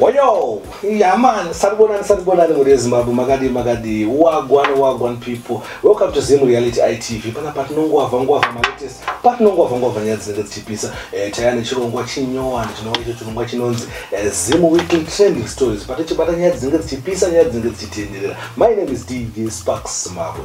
Oyo, yeah man, sanibonani sanibonani muri ezimbabwe makadii makadii wagwan wagwan people welcome to zim reality itv pana patinongwavha ngwavha malatest patinongwavha ngwavha nyaya dzinenge dzichipisa eh, taiya nechirongwa chinyowani chinova icho chirongwa chinonzi eh, zim weekly trending stories patichibata nyaya dzinenge dzichipisa nyaya dzinenge dzichitenderera my name is dj sparks zimbabwe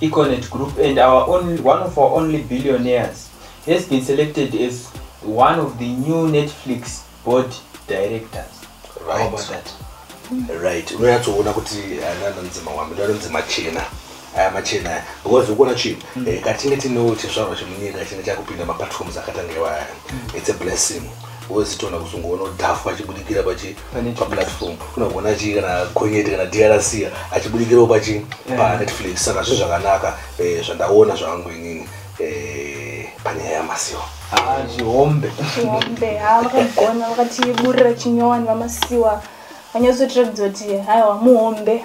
Econet Group and our only, one of our only billionaires has been selected as one of the new Netflix board directors. Right. How about that? Right. Unonyatsoona kuti anana nzima wambi ndaro nzima chena aya machena aya because ukuona chii mm. eh, katinge tinewo chizvarwa chemunyika chinge chakupinda maplatforms akatanga iwaya mm. it's a blessing wozitoona kuzongoona udhafu vachibudikira pachi pamlatform unogona chii kana gonyeti kana drc achibudikirawo pachii eh. panetflix saka zvinhu zvakanaka eh, zvandaona zvangu inini eh, panyaya yamasiwa ah, chihombe chihombe ha ah, vakagona vakatiburira chinyowani vamasiwa vanyatsotiratidza kuti haiwa muhombe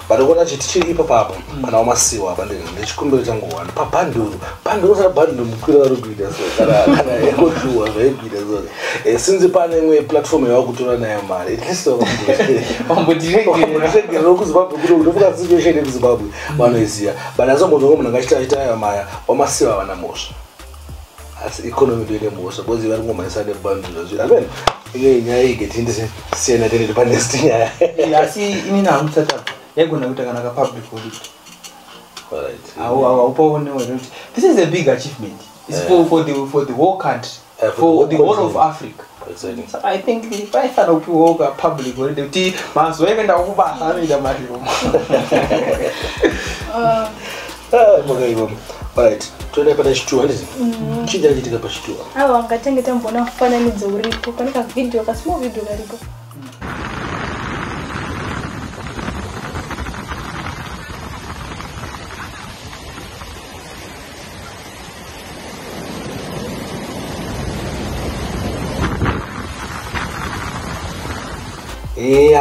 Vanoona chiti chiri ipapo apo pana wamasiwa apa ndini ndechikumbiro changu one pabhanduru bhanduru kana bhanduru mukwira vari kuita so kana kana ekojuwa zvaikuita so Eh, since pane imwe platform yava kutora nayo mari at least vambotiregerera kuzimbabwe kuno kunofuka situation yekuzimbabwe vanoiziva but asi vambozonga munhu akachita achita ayo maya wamasiwa havana mhosva asi economy ndo ine mhosva bcoz vari kungomhanyisa nebantu zvazviri amen ine nyaya iyi getindise siyana tenete panest nyaya asi inini hamusataka yaigona kuita kana kapublic holiday haupaonewo here kuti this is a big achievement is eh. for, for, the, for the whole country eh, for, for the whole of africa saka i think paifanira kupiwawo ka public holiday kuti mazuva ekuenda kubasa anoita mariro ah. ah, makaiva right toenda pana chituwa ndizi mm. chii chakachitika pachituwa awa ah, ngatange tamboona mufananidzo uripo pane kavhidhiyo kasmall vhidhiyo kariko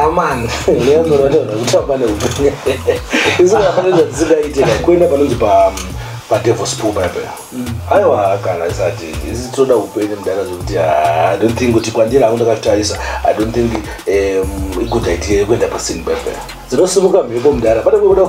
amana neamuranaekutamba neupenyu isu kafana zvatisingaite kuenda panonzi pa padevils pool paipa aiwa kana isati isi tinoda upenyu mudara zvekuti i don't think kuti kwandiri hangu ndakatarisa i don't think um, igoda idea yekuenda pasini paipa dzinosimuka mhepo mudara pane kuda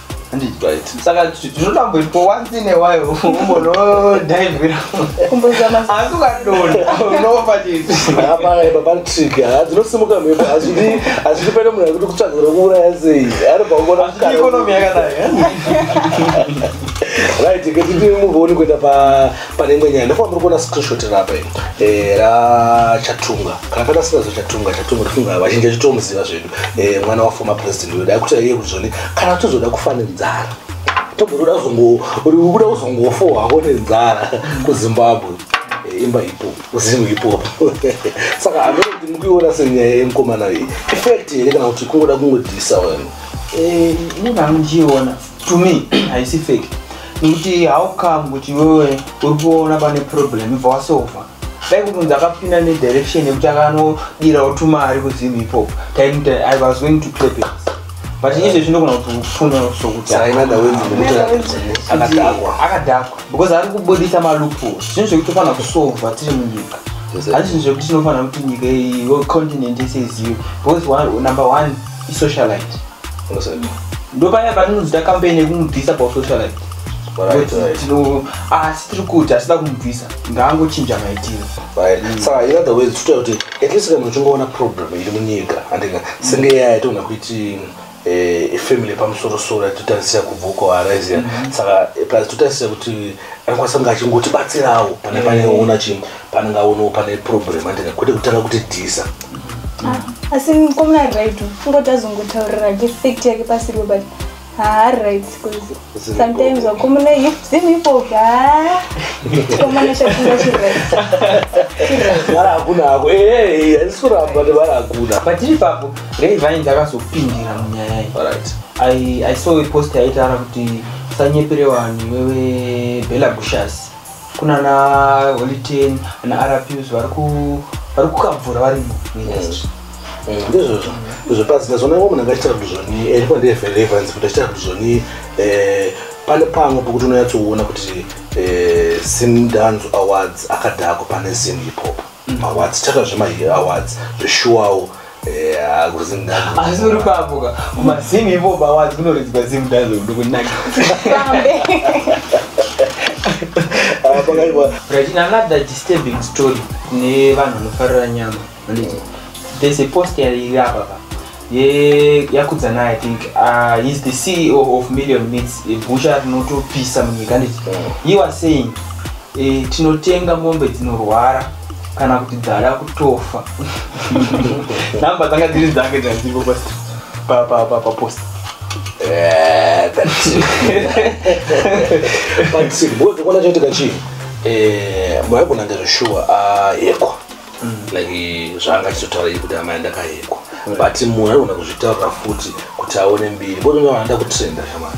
saka tinoda kumboitwa once in a while umbonodhaivhira asi ukadonda unofa chitipapatrik dzinosimuka mhepo hazvidi hazvidi pane munhu akuti kutsvagira kuuraya sei ari paongonaikonomi yakadai right ketiti muvoni kuenda pane imwe nyaya ndofamba uri kuona screenshot rapa eh, rachatunga kana patasingazo chatunga chatunga tifunga vazhinji achitomuziva zvedu eh, mwana wa former president uyo dai kuti aiye kuzoni kana tozoda kufa nenzara togotoda kuda kuzongofa wako nenzara kuzimbabwe eh, imba ipo zim ipo saka amene kuti mukuiona senyaya yemukomana iyi effect here kana kuti kungoda kungodhisa wena eh, inenge anochiona to me haisi fake nekuti how come kuti wewe uri kuona pane problem ibva wasofa dai kuti unzi akapinda nedirection yekuti akanodirawo tumari kuzim hip hop taimuti i was going to clap it but izvezvi ndinogona kuti ufune sokuti akadhakwa because ari kubudisa malupo zvinhu zvekuti tofanira kusolva tiri munyika handi zvinhu zvekuti tinofanira kuti nyika iyo continent yese izive because number one isocialite ndopaya patinozoita campaign yekumubvisa pausocialite asi tiri kuti asida kumubvisa ngaangochinja maitiro mm. saka in other words titoita kuti at least kana uchingoona problem iri munyika andika senge yaya yatogona kuiti eh, family pamusorosoro yatotarisira kubva uko arise mm-hmm. saka plus totarisira kuti anokwanisa kunge achingotibatsirawo pane mm. pane ona chi panenge aonawo pane problem andina kwete kutanga kuti dhisa ah, asi komuna right kungoti azongotaurira effect yake pasiriwo but haari right bcause sometimes wakomuna zim ipopi komana chafunga chirivara hakuna hako ehe handisi kuramba nevara hakuna patiri papo rei vainzi akazopindira munyaya iyi i saw a post yaitaura kuti usanyepere vanhu wewe bela bushas kuna na holiten na rpus vari ku- vari kukabvura varimo muindustry ndizvozvo izvo pasi ndazvona iwo munhu angachiita kuduzvoni ndipo ndeyefelevanzi kuti achiita kuduzvoni pane pamwe pokuti unonyatsoona kuti eh, simdanzo awards akadhako pane zim hip hop maawards chakazve maawards zveshuwawo asi uri papoka kumazimu ivo bawazi kunoridzwa zimu dazo ndokunaka right in another disturbing story kune vanhu vanofarira nyama vanoti there's a post iri apa pa ye yakudzana i think uh, he's the ceo of million meats a butcher rinotopisa munyika nditi he was saying eh, tinotenga mombe dzinorwara kana kuti dzada kutofa namba dzanga dziri dzange dzanziko papost eh, but bozvikuona chaitika chii eh, maigona ndezveshuwa ayekwa ah, mm. like zvaanga achizotaura ii kuti amai ndakayekwa mm. but munhu aigona kuzvitaurira futi kuti aone mbiri bozvinoaanda kutrenda shamari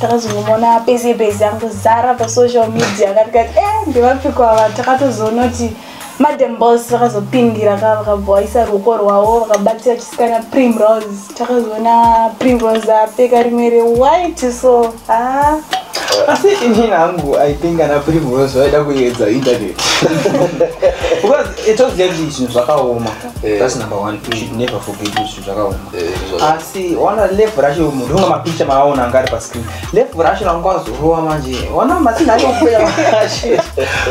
takazongomona pese pese angozara pasocial media akati kati e eh, ndevapiko ava takatozoona kuti madam bos vakazopindira ka vakabhoisa ruoko rwavo vakabatira chisikana primrose takazoona primrose apfeka rimwe rewhite so a ah. asi ini hangu i think ana primrose vaida kuedza internet because itoziva kuti zvinhu zvakaoma eh. that's number one you should never forget zvakaoma Eh, izvo zvaka- asi wana level racho munhu unga mapicha maaona anga ari pascreen level racho ranga wazorova manje wana masinha acho kupera manje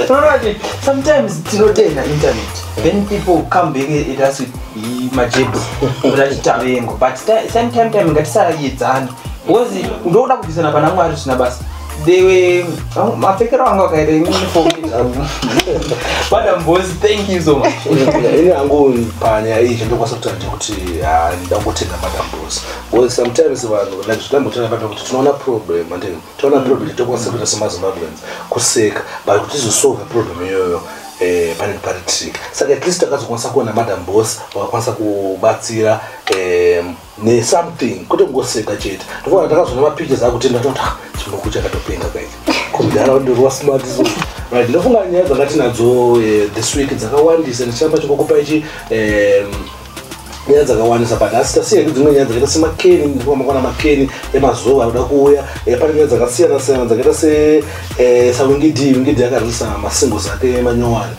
unoona kuti sometimes tinotenda internet then people come back at us with i- majebhu kuti achitavengo but ti- same time time ngatisayedzani because ndokuda kubvisana pana mwari zvisina basa they were oh, mapfekero anga akaita ini uniform zvangu madam boss thank you so much ini hangu panyaya iyi chandokwanisa kutanja kuti ah, ndangotenda madam boss because sometimes vanhu like zvitambotaura pata kuti tinoona problem and tinoona problem tokwanisa kuita semazimbabweans kuseka but kuti tizosolve problem iyoyo eh, pane pari trick saka at least takazokwanisa kuona madam boss vakakwanisa kubatsira eh, ne something kwete kungoseka chete ndofana takazoona mapictures akuti ndatoti ah, chimuku chakatopenga kaiti kumdhara ndirwa smart so right ndofunga nyaya dzakatinadzo eh, this week dzakawandisa ndichiramba chikokupa ichi nyaya dzakawandisa but asi tasiya dzimwe nyaya dzakaita semakeni ndikuamakwana makeni emazuva anoda kuuya eh, pane nyaya dzakasiyana siyana dzakaita se eh, sawingidi wingidi yakarisa masingles ake manyowani